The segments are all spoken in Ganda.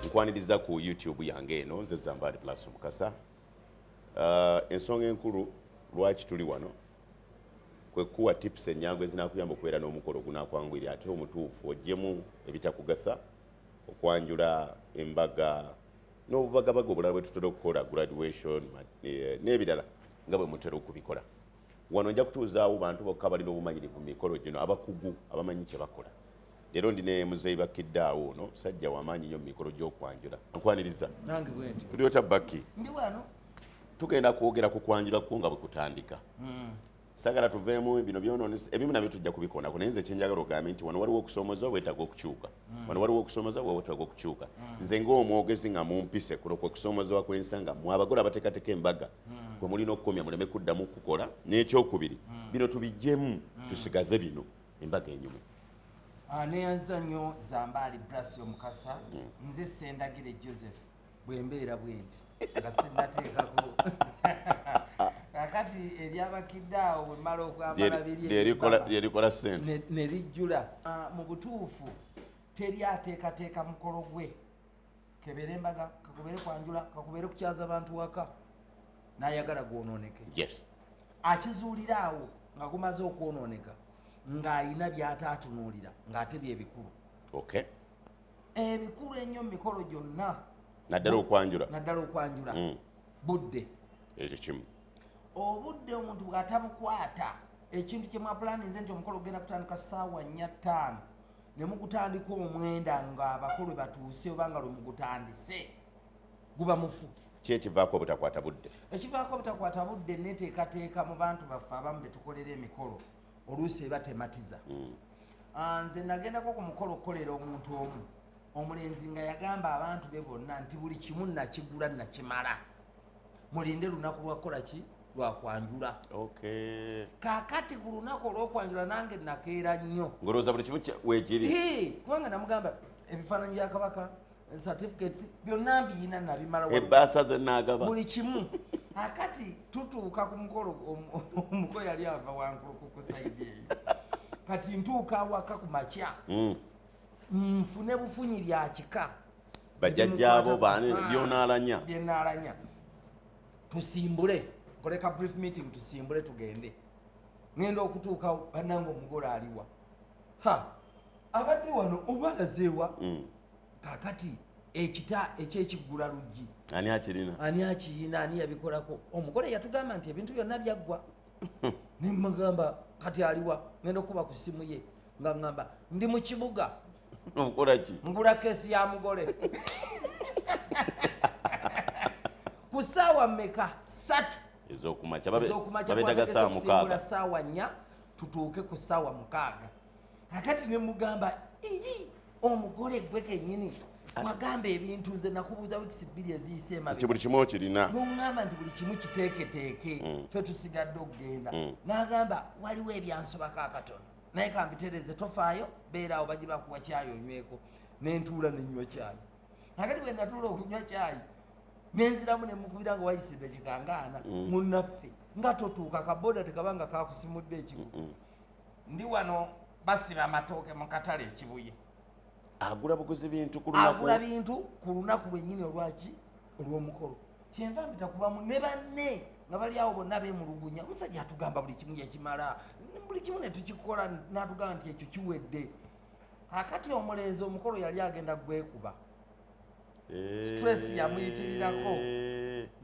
nkwaniriza ku youtube yange eno nze zambaali plus mukasa uh, ensonga enkulu lwaki tuli wano kwekuwa tips enyangu ezinakuyamba okubeera n'omukolo ogunakwangwiri ate omutuufu ojjemu ebitakugasa okwanjula embaga n'obubagabaga obulala bwetutera okukola graduation eh, n'ebirala nga bwe mutera okubikola wano nja kutuuzaawo bantu bokka balina obumanyirivu mu mikolo gino abakugu abamanyi kye bakola leero ndi ne muzeeyi bakkiddaawo ono musajja wamaanyi nnyo mu mikolo gy'okwanjula nkwaniriza tuli otya bakki tugenda kwogera ku kwanjula kwo nga bwe kutandika hmm. sagala tuveemu bino byonoonesa ebimu nabyo tujja kubikoonako naye nze kyenjagala ogambe nti wano waliwo okusoomoza obwetaaga okukyuka Mm. wano waliwo okusoomoza wa wetaaga okukyuka mm. nze ngaomwogezi nga mumpise kuno kwe kusoomozebwa kwensa nga mwe abagole abateekateeka embaga mm. kwe mulina okukomya muleme kuddamu kukola n'ekyokubiri bino tubijjemu tusigaze bino embaga enyumu ah, neyanza nnyo zambaali brasio mukasa nze sendagire joseph bwembeera bwenti nga sinateekako kakati eryabakidde awo bwemala okwambala biriyerikola sente ne lijjula ah, mu butuufu teri ateekateeka mukolo gwe kebeere embaga kakubeere kwanjula kakubeere kukyaza bantu waka nayagala gwononeke yes akizuulira awo nga gumaze okwononeka ng'alina by'ataatunuulira ng'ate bye bikulu okay ebikulu ennyo mu mikolo gyonna naddala okwanjula naddala okwanjula mm. budde ekyo kimu obudde omuntu bw'atabukwata ekintu kye mwapulaninze nti omukolo ogenda kutandika ssaawa nnya ttaano ne mugutandika omwenda ng'abakulu batuuse oba nga lwe mugutandise guba mufu ki ekivaako obutakwata budde ekivaako obutakwata budde neteekateeka mu bantu baffe abamu betukolera emikolo oluusi eba tematiza mm. ah, nze nagendako ku mukolo okukolera omuntu omu omulenzi nga yagamba abantu be bonna nti buli kimu nakigula nakimala mulinde lunaku lwakukola ki lwakwanjula kakati ku lunaku olwokwanjula nange nakeera nnyo kubanga namugamba ebifaananyi bya kabaka certificates byonna mbiyina nabimala ebbaasa ze naagaba buli kimu akati tutuuka ku mukolo omuko yali ava wankuluku ku saidi eyo kati ntuuka awaka ku makya hmm. nfune bufunyi lya kika bajajjaabo baani byonaalanya byenaalanya tusimbule koleka brief meeting tusimbule tugende ngenda okutuuka banange omugole aliwa ha abadde wano obalazeewa mm. kakati ekita ekyekiggula luggi ani akirina ani akiyina ani yabikolako omugole yatugamba nti ebintu byonna byaggwa nemagamba kati aliwa ngenda okukuba ku ssimu ye nga ngamba ndi mu kibuga okolaki ngula kesi ya mugole ku saawa meka satu ezokumakya babetaga saawa mukaaga saawa nnya tutuuke ku saawa mukaaga akati ne mugamba iyi omugole gwe kenyini wagamba ebintu nze nakubuuza wikisi bbiri eziyise emabnti buli kimu okirina nuŋŋamba nti buli kimu kiteeketeeke mm. fe tusigadde okugenda mm. n'agamba waliwo ebyansobako akatono naye kambitereze tofaayo beeraawo bagi bakuwa kyayi onyweko nentuula nenywa kyayi akati bwe natuula okunywa kyayi nenziramu nemukubira nga wayise edakikangaana mm. munnaffe nga totuuka kaboda tekaba nga kakusimudde ekigo ndi wano basiba amatooke mu katale ekibuye agula buguzi bintu ku lunaku agula bintu ku lunaku lwennyini olwaki olw'omukolo kyenva mpita ku bamu ne banne nga bali awo bonna bemulugunya omusajja atugamba buli kimu yakimala buli kimu ne tukikola n'atugamba nti ekyo kiwedde akati omulenzi omukolo yali agenda gwekuba eh. stress yamuyitirirako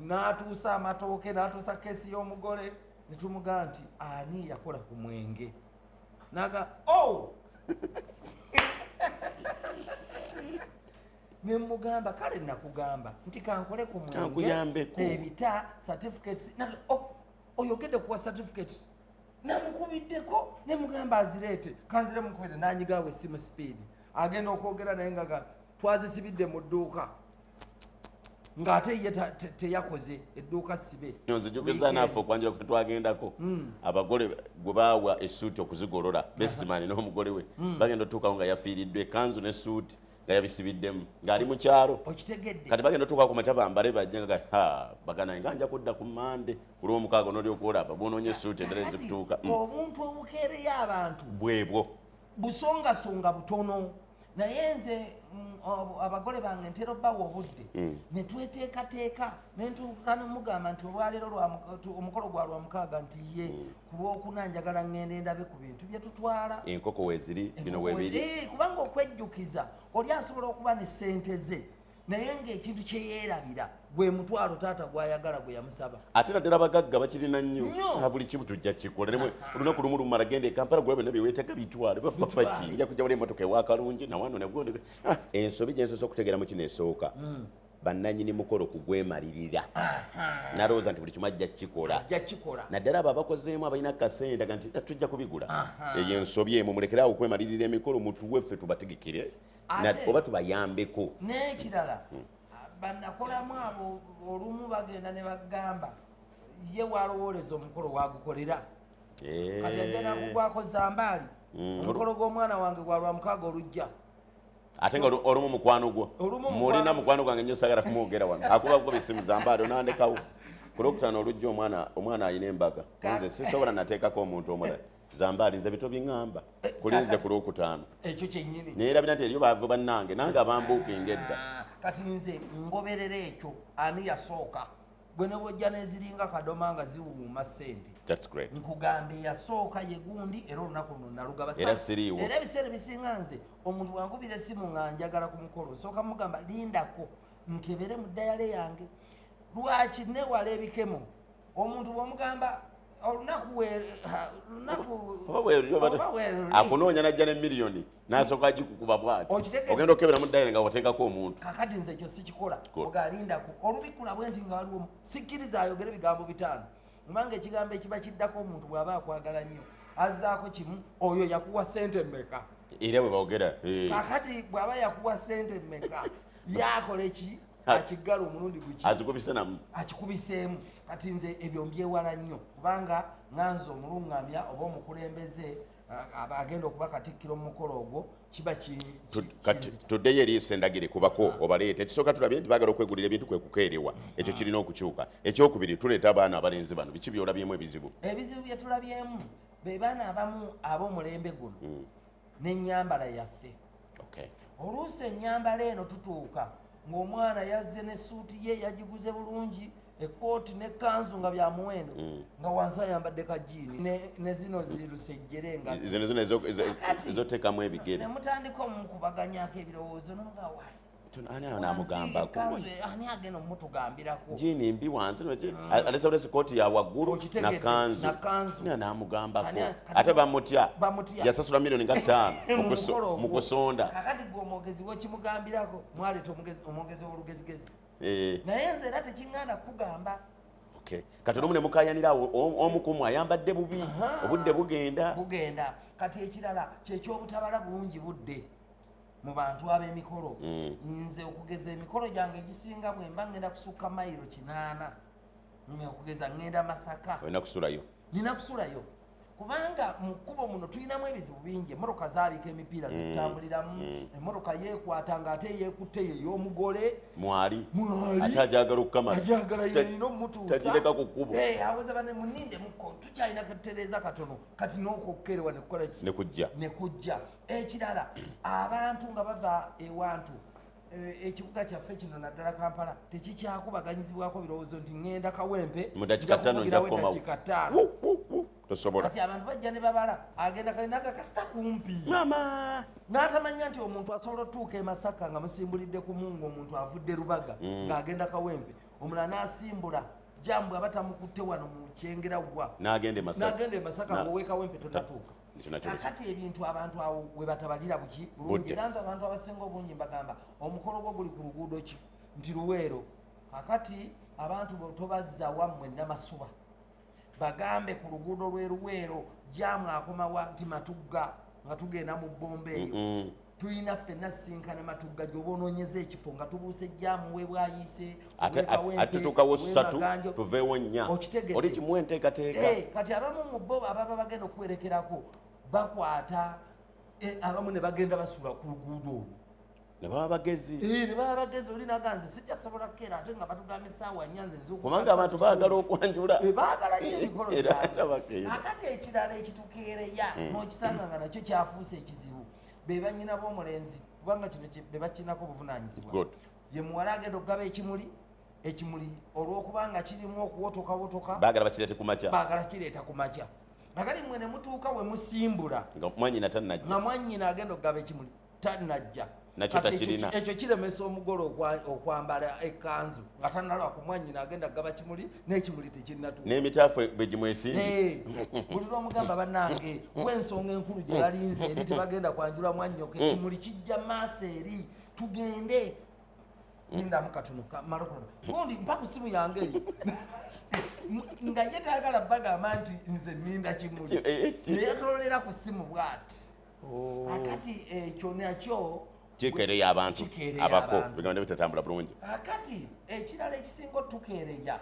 n'atuusa amatooke n'atuusa keesi y'omugole ne tumuga nti ani yakola ku mwenge naga o oh! ne mugamba kale nakugamba nti kankole ku mwenge ebita certificates oh, oyogedde kuwa certificates namukubiddeko ne mugamba azireete kanzire mukubire nanyigawo esimu sipiidi agenda okwogera naye nga twazisibidde mu dduuka ng'ate ye teyakoze edduuka sibe nzijukiza naafe okwanjira kwe twagendako hmm. abagole gwe baawa esuuti okuzigolola besimani n'omugole we hmm. bagenda otuukawo nga yafiiriddwa ekanzu n'esuuti nga yabisibiddemu ng'ali mu kyalo okitegedde kati bagenda otuuka ku makya bambale bajja nga ha bagana nga nja kudda ku mande ku lwomukaaga onoli okwolaba bwonoonye esuuti endala ezikutuuka mm. obuntu obukeereyo abantu bwebwo busongasonga butono naye nze mm, abagole bange ntera obbawa obudde mm. ne tweteekateeka nentuuka nomugamba nti olwaleero omukolo gwa lwamukaaga nti ye mm. ku lwokuna njagala ngenda endabe ku bintu byetutwala enkoko weziri bino webiri kubanga okwejjukiza oli asobola okuba ne sente ze naye ngaekintu kyeyerabira gwe mutwalo taata gwayagala gwe yamusaba ate naddala abagagga bakirina nnyo na buli kimu tujja kikola ne olunaku lumu lumala genda ekampala gwe byonna byewetega bitwale bapapaki nja kujja wala emotoka ewakalungi nawano negwo ah, ensobi gyensosa okutegeeramu kino esooka mm. bannanyini mukolo kugwemalirira nalowooza nti buli kimu ajja kukikola naddala abo abakozeemu abalina kasente daga nti eh, tujja kubigula eyo ensobi emu mulekere awo okwemalirira emikolo mutuwe ffe tubategekere oba tubayambeko n'ekirala hmm. banakolamu abo olumu bagenda ne bagamba ye walowooleza omukolo wagukolera eh. kati ajja nakugwakoza mbaali hmm. omukolo gw'omwana wange gwalwamukaaga olujja ate nga olumu mukwano gwo mulina mukwano gwange nyo sagala kumwogera wano akuba kuba esimu zambaade onandekawo kulwokutano olujja omwana omwana alina embaga nze sisobola nateekako omuntu omulala zambaali nze bito biŋamba kulinze ku lwokutaano naye labira nti eriyo baavu bannange nange abambuukinga edda ah, kati nze ngoberera ekyo ani yasooka gwe ne bwojja neziringa kadoma nga ziwuuma sente nkugamba eyasooka ye gundi era olunaku luno nalugaba era ebiseera ebisinga nze omuntu wankubira esimu nga njagala ku mukolo nsooka mugamba lindako nkebere mu dayale yange lwaki newala ebikemo omuntu bwomugamba olunaku akunoonya najja ne miliyoni nasooka agikukuba bwati ogenda okebera mu dayire nga wateekako omuntu kakati nze ekyo sikikola ogalindako olubikula bwe nti nga waliwo sikkiriza ayogere ebigambo bitaano kubanga ekigambo ekiba kiddako omuntu bw'aba akwagala nnyo azzaako kimu oyo yakuwa sente mmeka era bwe bogera eh. kakati bw'aba yakuwa sente mmeka yakola eki akiggala omulundi guki akikubisenamu akikubiseemu kati nze ebyo mbyewala nnyo kubanga nganze omulungamya oba omukulembeze agenda okuba katikkiro mu mukolo ogwo kiba toddeyo eriiso endagire kubako ah. obaleeta ekisooka tulabye nti bagala okwegulira ebintu kwe kukeerewa ekyo kirina okukyuka ekyokubiri tuleeta abaana abalenzi bano biki byolabyemu ebizibu ebizibu bye tulabyemu be baana abamu ab'omulembe guno hmm. n'ennyambala yaffe oluusi ennyambala eno tutuuka ng'omwana yazze n'essuuti ye yagiguze bulungi ekkooti ne kanzu nga bya muwendo mm. nga wansi ayambadde kajiini ne zino zilusejjere nga zino zino ezoteekamu ebigere ne mutandika omukubaganyako ebirowoozo nomuga wayi ani ayo namugambako ani agenda omutugambirako jiini mbi wansi mm. alesaulesi kooti ya waggulu nakanzu ani anamugambako ate bamutya yasasula milioni nga ttaano mu kusonda kakati gwe omwogezi wekimugambirako mwaleeta omwogezi w'olugezigezi eh. naye nze era tekiŋŋaana kukugamba kati olumu ne mukayanira awo omu kumu ayambadde bubi obudde bugenda bugenda kati ekirala kyekyobutabala bungi budde mu bantu ab'emikolo mm. nze okugeza emikolo gyange egisinga bwemba ŋŋenda kusukka mayiro kinaana okugeza ŋŋenda masaka olina kusulayo nina kusulayo kubanga mu kkubo muno tulinamu ebizibu bingi emmotoka zaabika emipiira mm. zitambuliramu mm. emmotoka yeekwata nga ate yeekutte ye y'omugole mwali ate ajagala okukamalaajagala yalina omutuusatagireka ku kkubo eh, awoza bane muninde muko tukyalina katereeza katono kati n'okukkerewa nekukola ki ne kujja ekirala abantu nga bava ewantu Eh, ekibuga kyaffe kino naddala kampala tekikyakubaganyizibwako birowoozo nti ŋenda kawempe tosobolaati abantu bajja ne babala agenda kalinaga kasita kumpi mama n'atamanya nti omuntu asobola otuuka e masaka nga musimbulidde ku mungu omuntu avudde lubaga mm. ng'agenda kawempe omulala n'asimbula jambu aba tamukutte wano mu kyengera wa n'agenda e masaka ng'owekawempe tonatuuka kakati ebintu abantu awo webatabalira buki bulungi era nze abantu abasinga obungi mbagamba omukolo gwo guli ku luguudo ki nti luweero kakati abantu tobazza wammwe namasuba bagambe ku luguudo lweruweero jamu akomawa nti matugga nga tugenda mu bbomba eyo tulina ffenna sisinkana matugga gyoba onoonyeza ekifo nga tubuuse ejjaamu webwayise atetutukawo ssatu tuveewo nnya oli kimu enteekateeka eh, kati abamu mu bo ababa bagenda okuwerekerako bakwata eh, abamu ne bagenda basula ku luguudo olwo nebaba bagezi eh, nebaba bagezi oli naganze sijja sobola kukera ate nga batugamba esaawa nnya nze kubanga abantu baagala okwanjula baagala nyo emikolo gyabwe akati ekirala ekitukeereya hmm. n'okisanga nga nakyo kyafuuse ekizibu be bannyina b'omulenzi kubanga kino be bakirinako obuvunaanyizibwa ye muwala agenda okugaba ekimuli ekimuli olw'okubanga kirimu okuwotokawotoka baagala bakireete ku makya baagala kireeta ku makya nagali mwe ne mutuuka we musimbula nga mwanyina tannajja nga mwanyina agenda okugaba ekimuli tannajja nakyo takirina ekyo kiremesa omugole okwambala ekkanzu nga tannalwa ku mwanyina agenda kugaba kimuli n'ekimuli tekinnatuuka n'emitaafu bwe gimwesimbi buli lwomugamba bannange kuba ensonga enkulu gye balinze eri tebagenda kwanjula mwannyoka mm. ekimuli kijja maaso eri tugende nindamu katono malokola gundi mpa ku simu yange eyo nga ye taagala bagamba nti nze ninda kimuli eh, eh, neyetololera ku simu bwati oh. akati ekyo eh, nakyo kikeereya abantu abako bigambo nebitatambula bulungi akati ah, ekirala ekisinga otukeereya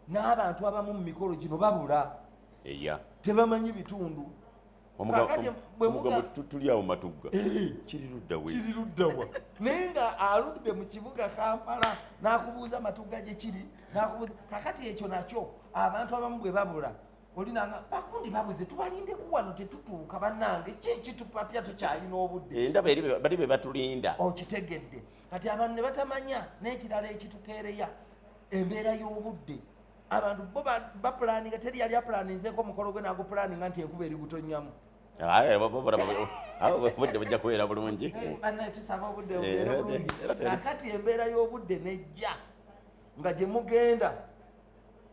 n'abantu abamu mu mikolo gino babula eya tebamanyi bitundu tulyawo matugga eh. kiriruddawa naye nga aludde mu kibuga kampala n'akubuuza matugga gye kiri kakati ekyo nakyo abantu abamu bwe babula olinanga bakundi babuze tubalinde kuwano tetutuuka banange kyekitupapya tukyalina obudde eh, ndaba bali be batulinda okitegedde kati abantu ne batamanya n'ekirala ekitukeereya embeera y'obudde abantu bo bapulaninga teri yali apulaninzeeko omukolo gwe nagupulaninga nti enkuba eri gutonnyamu obudde bujja kubeera bulungi eh, banaye tusaba obudde bubeera eh, bulungi kakati embeera y'obudde nejja nga gye mugenda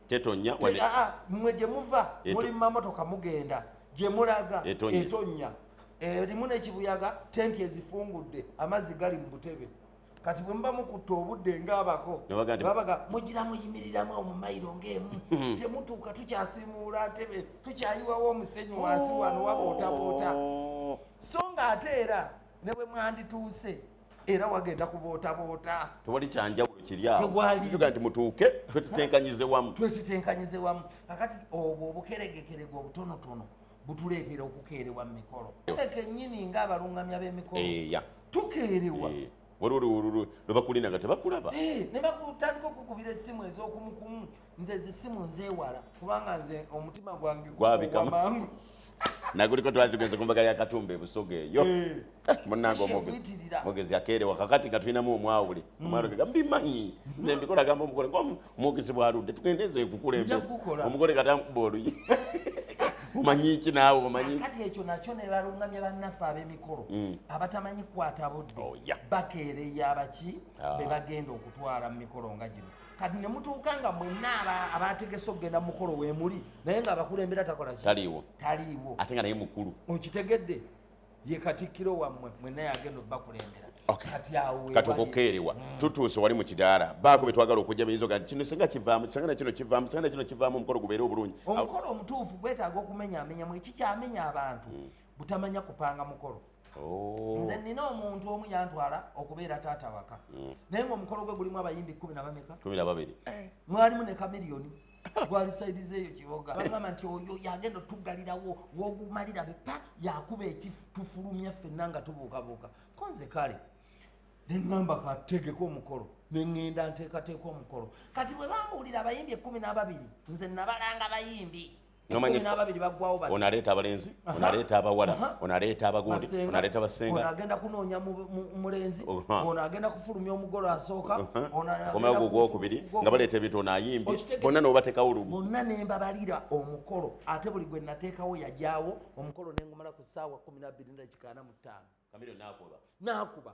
tetonya wane ah, ah, mwe gye muva muli mamotoka mugenda gye mulaga etonya erimu eh, nekibuyaga tenti ezifungudde amazzi gali mu butebe kati bwe muba mukutta obudde ngaabako babaga mugira muyimiriramu omumayiro ngaemu hmm. temutuuka tukyasimuula ntebe tukyayiwawo omusenyi wansi wano waba otabuuta oh. so nga ate era ne bwe mwandituuse era wagenda kubootaboota tewali kyanjawulo kiri awotuga nti mutuuke twetitenkanyize wamu twetitenkanyize wamu kakati obwo obukeregekerega obutonotono butuleetera okukeerewa mu mikolo fe kenyini nga abalungamya b'emikolo eh, tukeerewa eh, waliwo lwebakulinaga tebakulaba eh, ne bakutandika okukubira essimu ez'okumukumu nze zisimu nzewala kubanga nze omutima gwange gwabikamangu naguliko twali tugenze ku mbaga ya katumba ebusoga eyo eh. eh, munange omwogezi yakeerewa kakati nga tulinamu omwawule hmm. omwawule gega mbimanyi nze mbikola gamba omugole ngaomwogezi bwaludde tugende ezo ekukulembe omugole katamkuba oluyi omanyi ki naawe omanyi kati ekyo nakyo ne balungamya bannaffe ab'emikolo mm. abatamanyi kukwata budde oh, bakeereya abaki ah. be bagenda okutwala mu mikolo nga gino kati ne mutuuka nga mwenna abaategese okugenda mukolo weemuli naye nga abakulembera takola ki taliiwo taliiwo ate nga naye mukulu okitegedde ye katikkiro wammwe mwenna yagenda obakulembera kati okukeerewa mm. tutuuse wali mu kidaala baako be twagala okujja biyinza ogaa kino singa kivaamu singa nakino kivaamu singa nakino kivaamu omukolo gubeere obulungi omukolo omutuufu gwetaaga okumenyaamenyamu ekikyamenya abantu mm. butamanya kupanga mukolo Oh. nze nina omuntu omu yantwala okubeera taata waka mm. naye nga omukolo gwe gulimu abayimbi kumi nabameka eh. mwalimu ne kamiriyoni gwali saidize eyo kiboga bagamba nti oyo yagenda otugalirawo wogumalira bepa yakuba ekitufulumya ffenna nga tubuukabuuka konze kale neŋamba kategeka omukolo neŋenda nteekateeka omukolo kati bwe bambuulira abayimbi ekumi n'ababiri nze nabalanga bayimbi onaleeta abalenzi onaleeta abawala onaleeta abagundi onaleeta basenga agenda kunoonya mulenzi ono agenda kufulumya omugolo asooka omayo gwo gwokubiri nga baleeta ebintu ono ayimbi bonna nobatekawo lumu bonna nembabalira omukolo ate buli gwe nateekawo yajawo omukolo nengumala ku saawa kumi nabbiri ndakikaana mu ttaano nakuba